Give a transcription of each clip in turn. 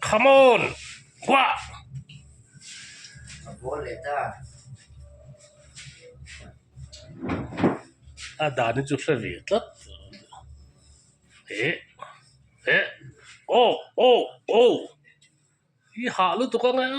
Come on! Hua! A dahna chu hre ve tlat. Eh! Eh! Oh! Oh! Oh! Hi hah lutuk ang e.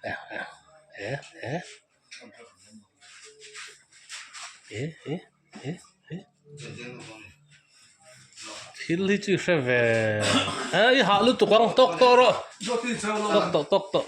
Eh! Eh! Eh! Eh! thil hi chu i hre ve a i hah lutuk ang tawk tawk a rawh tawk tawk tawk tawk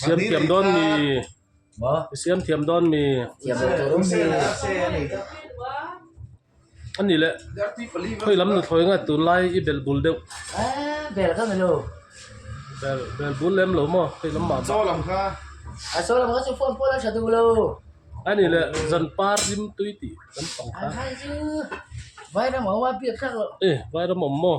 siam thiam dawn mi i siam thiam dawn mi a ni leh khawi lam nu thawi ngat tur lai i bel bul deuh bel bul lem lo maw khawi lam mah a ni leh zan par lim tui tih kan pang kha vai ram awm maw.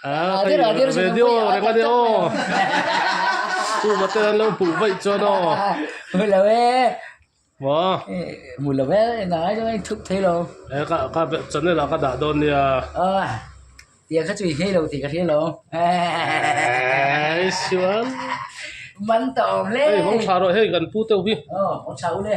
Radir radir si lo pui a tak tak Pu Mate an lo pu vaih chuan aw. Hmu lo e. Mo. Hmu lo e nangai chu in thup thei lo. E ka ka Chanel ah ka dah dawn nia. A tiang kha chu i ngei lo tih ka hriat lo. Ai sual. Man ta awm le. Hei hawng tha rawh hei kan pu teuh hi. Aw hawng tha ule.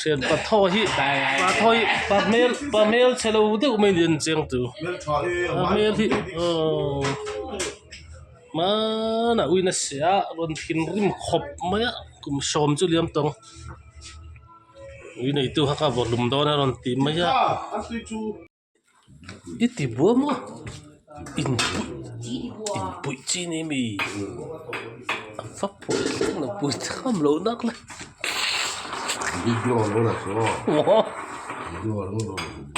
thian pa tho hi pa tho hi pa hmel pa hmel che lo deuh mai nen chiang tu pa hmel hi aw hmaan ah uiin a se a rawn thinrim khawp mai a kum sawm chu liam tawng ui neitu kha kha vawlum dawn a rawn tih mai a. I ti buai maw? Inpuih chin i mi? Fa phawt thung lo pui tham loh nak le aw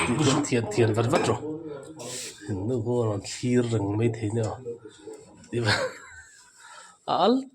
tihchuan thian thian vat vat rawh innu hu an thlir reng mai thei nia a al--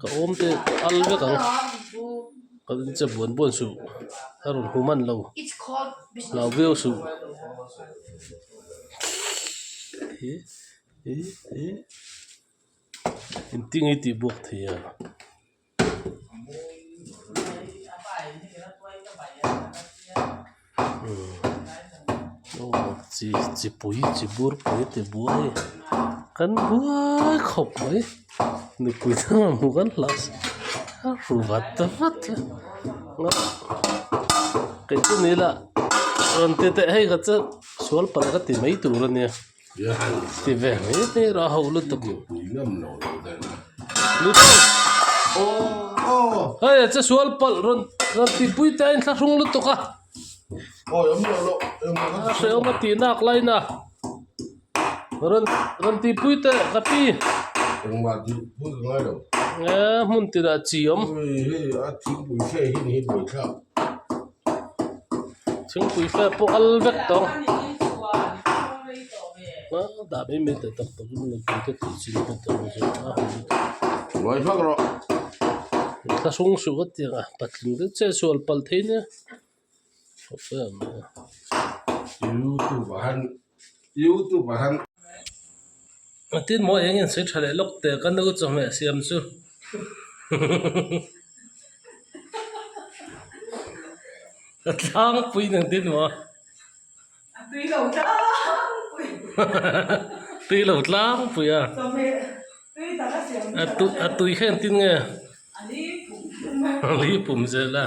ka awm te al vek ang ka vawn che buan buan suh ka rawn hum an lo hlau viau suh in ti nge tih buak thei a. chi chi pui chi bur pui ti buai kan buai khawp mai nupui chuan hmu kan hlah se a ru vat ta vat a kei chu nila rawn ti teh hai kha chu sual pala ka ti mai tur a nia. Ti ve mai te rah ho lutuk. Hei a che sual palh rawn rawn ti pui te a inthlak hrung lutuk a. A hreawm a tih nak line a rawn rawn ti pui te ka pi. Ehh hmun tirah chi awm. thingpui fel pawh al vek ta ang . youtube ah han a tin maw eng in sawi tha leh lawk te ka nau chawhmeh siam chu ka tlangpui nang tin maw tui lo tlangpui a a tui kha engtin nge a li pum zel a.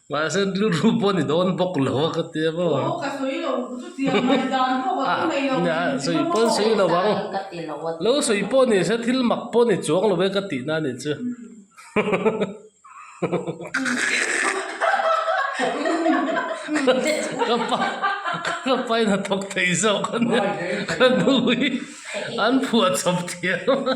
Mahse tluru pawh ni dawn bawk lo a ka tia maw. Aw ka sawi lo chutia mai dan pawh ka pu nei lo thin ah sawi pawn sawi lo ang ka ti lo a lo sawi pawh ni se thil mak pawh ni chuang lo e ka tih na nih chu ka pa ka pai na thawk thei zawk a nia ka nu hi an phuah chawp thiam a.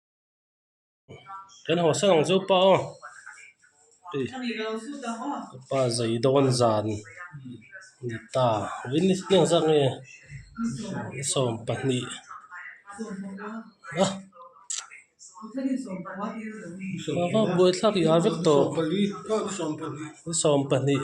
kan haw sang ang chu pa aw ei ka pa zai dawn zan a ni ta in nge chiang zak nge i sawm pahnih a buaithlak iha vek tawh i sawm pahnih.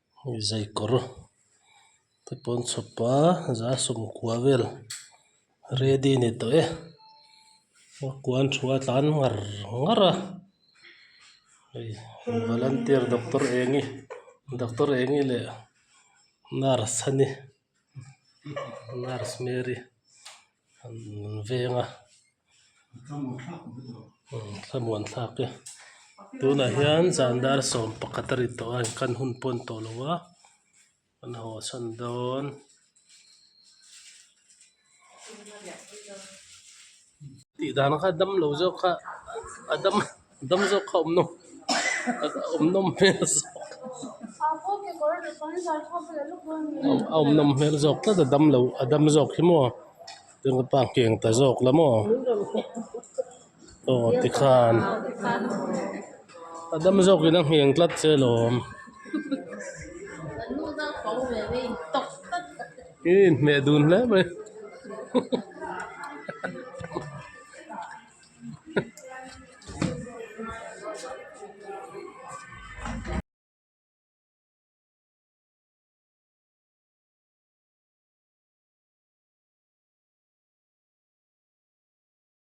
zai kawr te pawh an chhawp a za sawmkua vel ready a ni tawh e kua an thu a tlan ngar ngar a hei volunteer doctor eng nge doctor eng nge leh nurse a ni. nurse mary an veng a thlamuan thlak e tunah hian zan dar sawm pakhat a ri tawh a an kan hun pawn tawh lo va an haw chhan dawn. Tihdana kha dam lo zawk kha a dam dam zawk kha awmnawm awmnawm hmel a awmnawm hmel zawk tlat a dam lo a dam zawk hi maw keng ta zawk la maw. Aw tikhan a dam zawk in a ngheng tlat che alawm ih in hmeh dun hle mai hahahaha.